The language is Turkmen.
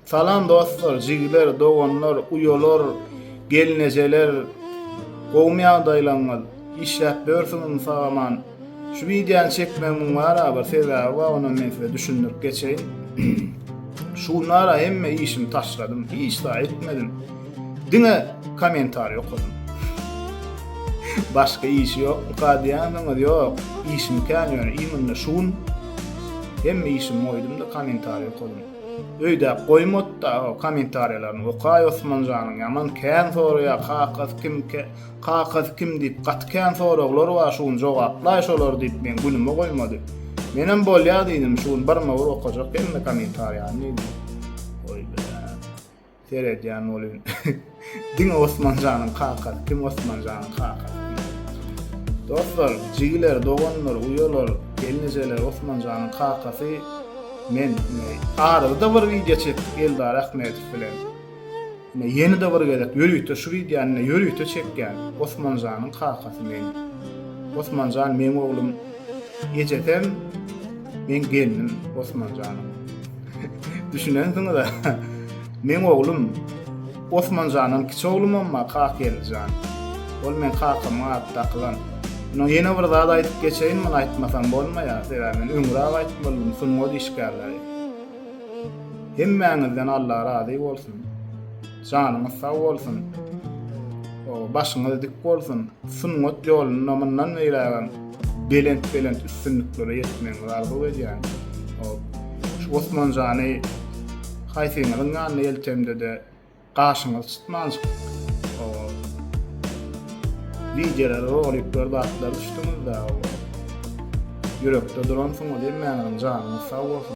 Salam dostlar, jigler, doganlar, uýalar, gelnejeler. Gowumy ýagdaýlaryňyz? Işläp börsüňizmi sagaman? Şu wideony çekmegiň bara bir sebäbi bar, ony men size düşündirip geçeýin. Şu günlere hemme işimi taşladym, hiç zat etmedim. Diňe kommentariý okadym. Başga iş ýok, kadýanyňyz ýok. Işim kän ýöne, iýminde şu gün hemme işimi goýdum-da kommentariý okadym. Öýdäp goýmotda o komentarýalaryny okaý Osmanjanyň ýaman kän soraýa kakasy kim kakasy kim diýip gaty kän soraglar bar şu gün jogaplaý şolary diýip meň günüme goýmady. Menem bolýa diýdim şu gün birma bir okajak hemme komentarýany diýdim. Seredýän bolýun. Diňe Osmanjanyň kakasy, kim Osmanjanyň kakasy? Dostlar, jigiler, doganlar, uýalar, gelnejeler, Osmanjanyň kakasy men. Arada bir wideo çekip Eldar Ahmedow bilen. Ine ýene-de bir gezek ýörite şu wideony ýörite çekýän Osmanjanyň kakasy men. Osmanjan meň oglum Ejesem meň gelnim Osmanjanyň. Düşünensiňiz-ä. Meň oglum Osmanjandan kiçi oglumam-a Kakgeldijan. Ol meň kakamyň ady dakylan. Ýöne ýene bir zat aýdyp geçeýin, muny aýtmasam bolmaýar, sebäbi men öňräk aýtdy boldum, sungat işgärleri. Hemmäňizden Alla razy bolsun. Janyňyz sag bolsun. Başyňyz dik bolsun. Sungat ýolunda mundan beýlägem belent-belent üstünliklere ýetmegiňizi arzuw edýän. Şu Osman jany haýsyňyzyň ýanyna geltemde-de gaşyňyzy çytmanjyk wideolary, roliklary, zatlary düşdüňiz-de. Ýürekde duransyňyz, hemmäňiziň janyňyz sag bolsun.